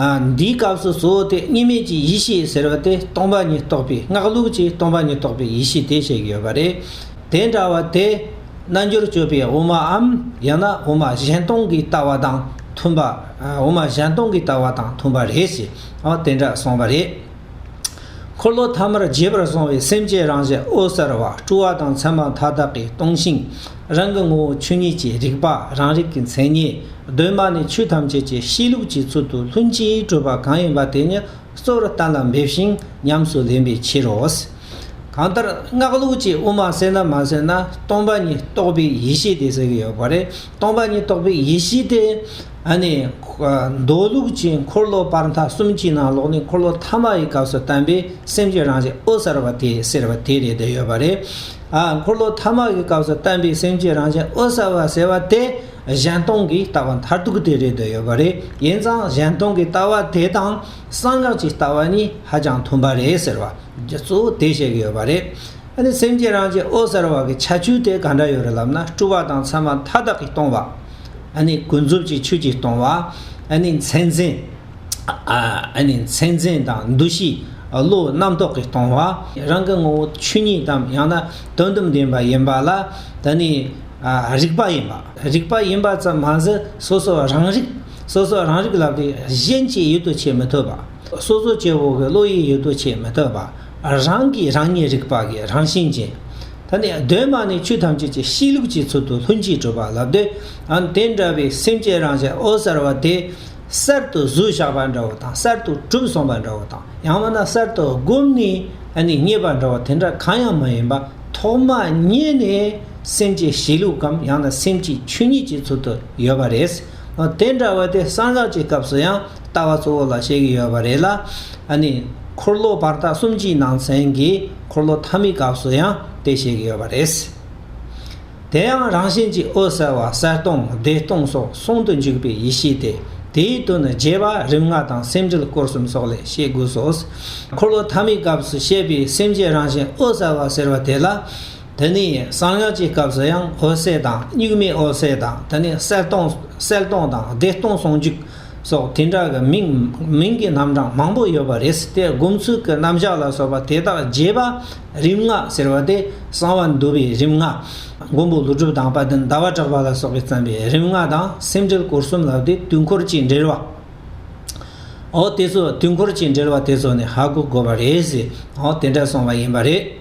འདིའི་སྐབས་སུ་གཙོ་བོ་དེ་གཉིས་མེད་ཀྱི་ཡེ་ཤེས་ཟེར་བ་དེ་སྟོང་པ་ཉིད་རྟོགས་པའི་སྔགས་ལུགས་ཀྱིས་སྟོང་པ་ཉིད་རྟོགས་པའི་ཡེ་ཤེས་དེ་བཤད་ཀྱི་ཡོད་པ་རེད། དེ་འདྲ་བ་དེ། རྣལ་འབྱོར་སྤྱོད་པའི་དབུ་མའམ་ཡང་ན་དབུ་མ་གཞན་སྟོང་གི་ལྟ་བ་དང་མཐུན་པ། དབུ་མ་གཞན་སྟོང་གི་ལྟ་བ་དང་མཐུན་པ་རེད་ཅེས་དེ་འདྲ་གསུངས་པ་རེད། འཁོར་ལོ་ཐ་མར་རྒྱས་པར་སོང་བའི་སེམས་ཀྱི་རང་བཞིན་ཨོ་གསལ་བ་སྤྲུལ་བ་དང་མཚན་མ་མཐའ་དག་གིས་སྟོང་ཞིང། རང་གི་ངོ་བོ་ཆོས་ཉིད་ཀྱི་རིག་པ་རང་རིག་གི་མཚན་ཉིད་གདོད་མ་ནས་ཆོས་ཐམས་ཅད་ཀྱི་གཤིས་ལུགས་ཀྱི་ཚུལ་དུ་ལྷུན་གྱིས་གྲུབ་པ་གང་ཡིན་པ་དེ་ཉིད་གཙོ་བོར་གཏན་ལ་འབེབས་ཤིང་ཉམས་སུ་ལེན་པའི་ཕྱིར་རོ། གང་ལྟར་སྔགས་ལུགས་ཀྱིས་དབུ་མ་བསལ་ན་མ་བསལ་ན་སྟོང་པ་ཉིད་རྟོགས་པའི་ཡེ་ཤེས་དེ་ཟེར་གྱི་ཡོད་པ་རེད། སྟོང་པ་ཉིད་རྟོགས་པའི་ཡེ་ཤེས་དེ། ཨ་ནི། མདོ་ལུགས་ཀྱི་འཁོར་ལོ་སྤར་མཐའ་གསུམ་གྱི་ནང་ལོགས་ནས་འཁོར་ལོ་ཐ་མ་ཡི་སྐབས་སུ་བསྟན་པའི་སེམས་ཀྱི་རང་བཞིན་ཨོ་གསར་བ་དེ་ཟེར་བ་དེ་རེད་འདོད་ཡོད་པ་རེད། འཁོར་ལོ་ཐ་མག་གི་སྐབས་སུ་བསྟན་པའི་སེམས་ཀྱི་རང་བཞིན་ཨོ་བསལ་བ་ཟེར་བ་དེ་གཞན་སྟོང་གི་ལྟ་བ་མཐར་ཐུག་དེ་རེད་འདོད་ཡོད་པ་རེད་ཡིན་ཙང་གཞན་སྟོང་གི་ལྟ་བ་དེ་དང་གསང་སྔགས་ཀྱི་ལྟ་བ་གཉིས་ཧ་ཅང་མཐུན་པ་རེད་ཟེར་བ་རྒྱུ་གཙོ་བོ་དེ་བཤད་གི་ཡོད་པ་རེད་ཨ་ནི་སེམས་ཀྱི་རང་བཞིན་ཨོ་བསལ་བ་གི་ཁྱད་ཆོས་དེ་ག་འདྲ་ཡོད་རེད་ལབ་ན་སྤྲུལ་བ་དང་མཚན་མ་མཐའ་དག་གིས་སྟོང་བ། ཨ་ནི་ཀུན་རྫོབ་ཀྱི་ཆོས་ཀྱིས་སྟོང་བ། ཨ་ནི་མཚན་འཛིན། མཚན་འཛིན་དང་འདུ་ཤེས་བློ་རྣམ་རྟོག་གིས་སྟོང་བ། རང་གི་ངོ་བོ་ཆོས་ཉིད་དམ་ཡང་ན་དོན་དམ་བདེན་པ་ཡིན་པ་ལ་དེ་ནི་རིག་པ་ཡིན་པ། རིག་པ་ཡིན་པ་ཙམ་མ་ཟད་སོ་སོ་རང་རིག། སོ་སོ་རང་རིག་ལ་དེ་གཞན་གྱིས་ཡུལ་དུ་བྱེད་མི་ཐུབ་པ། སོ་སོ་སྐྱེ་བོ་གི་བློ་ཡིས་ཡུལ་དུ་བྱེད་མི་ཐུབ་པ། རང་གིས་རང་ཉིད་རིག་པ་གི་རང་བཞིན་ཅན། ད་ནི་གདོད་མ་ནས་ཆོས་ཐམས་ཅད་ཀྱི་གཤིས་ལུགས་ཀྱི་ཚུལ་དུ་ལྷུན་གྱིས་གྲུབ་པ་ལབ་སྟེ། དེ་འདྲ་བའི་སེམས་ཅན་རང་བཞིན་འོད་གསལ་བ་དེ། གསར་དུ་གཟུགས་བཞག་པ་འདྲ་བོ་དང་གསར་དུ་གྲུབ་སོང་བ་འདྲ་བོ་དང་ཡང་མིན་ན་གསར་དུ་བསྒོམས་ནས་རྙེད་པ་འདྲ་བོ་དེ་འདྲ་གང་ཡང་མ་ཡིན་པ་ཐོག་མ་རྙེད་ནས་སེམས་ཀྱི་གཤིས་ལུགས་གམ་ཡང་ན་སེམས་ཀྱི་ཆོས་ཉིད་ཀྱི་ཚུལ་དུ་ཡོད་པ་རེད། དེ་འདྲ་བ་དེ་གསང་སྔགས་ཀྱི་སྐབས་སུ་ཡང་ལྟ་བ་གཙོ་བོ་ལ་བཤད་ཀྱི་ཡོད་པ་རེད་ལ། འཁོར་ལོ་བར་དག་གསུམ་གྱི་ནང་ཚན་གྱི་འཁོར་ལོ་ཐ་མའི་སྐབས་སུ་ཡང་དེ་བཤད་ཀྱི་ཡོད་པ་རེད། དེ་ཡང་རང་བཞིན་གྱིས་འོད་གསལ་བ་གསལ་སྟོང་བདེ་སྟོང་སོགས་གསུམ་དུ་འཇུག་པའི་ཡེ་ཤེས་ཏེ་དེའི་དོན་ནི་རྒྱས་པ་རིམ་ལྔ་དང་སེམས་འགྲེལ་སྐོར་གསུམ་སོགས་ལས་ཤེས་དགོས་སོ། འཁོར་ལོ་ཐ་མའི་སྐབས་སུ་བཤད་པའི་སེམས་ཀྱི་རང་བཞིན་འོད་གསལ་བ་ཟེར་བ་དེ་ལ། དེ་ནས་གསང་སྔགས་ཀྱི་སྐབས་སུ་ཡང་འོད་གསལ་དང་གཉུག་མའི་འོད་གསལ་དང་དེ་ནས་གསལ་སྟོང་གསལ་སྟོང་དང་བདེ་སྟོང་ཟུང་འཇུག་སོགས་དེ་འདྲ་གི་མིང་མིང་གི་རྣམ་གྲངས་མང་པོ་ཡོད་པ་རེད་སྲིད་དེ་སྒོམ་ཚུལ་གྱི་རྣམ་གཞག་ལ་སོགས་པ་དེ་དག་རྒྱས་པ་རིམ་ལྔ་ཟེར་བ་དེ་གསང་བ་འདུ་བའི་རིམ་ལྔ། མགོན་པོ་ལུས་གྲུབ་དང་དཔའ་བརྟན་ཟླ་བ་གྲགས་པ་ལ་སོགས་པས་བརྩམས་པའི་རིམ་ལྔ་དང་སེམས་འགྲེལ་སྐོར་གསུམ་ལགས་ཏེ་དུས་འཁོར་གྱིས་འགྲེལ་བའོ། དེ་ཚོ་དུས་འཁོར་གྱིས་འགྲེལ་བ་དེ་ཚོ་ནི་ཧ་གོ་དགོས་པ་རེད། དེ་འདྲ་སོང་བ་ཡིན་པ་རེད།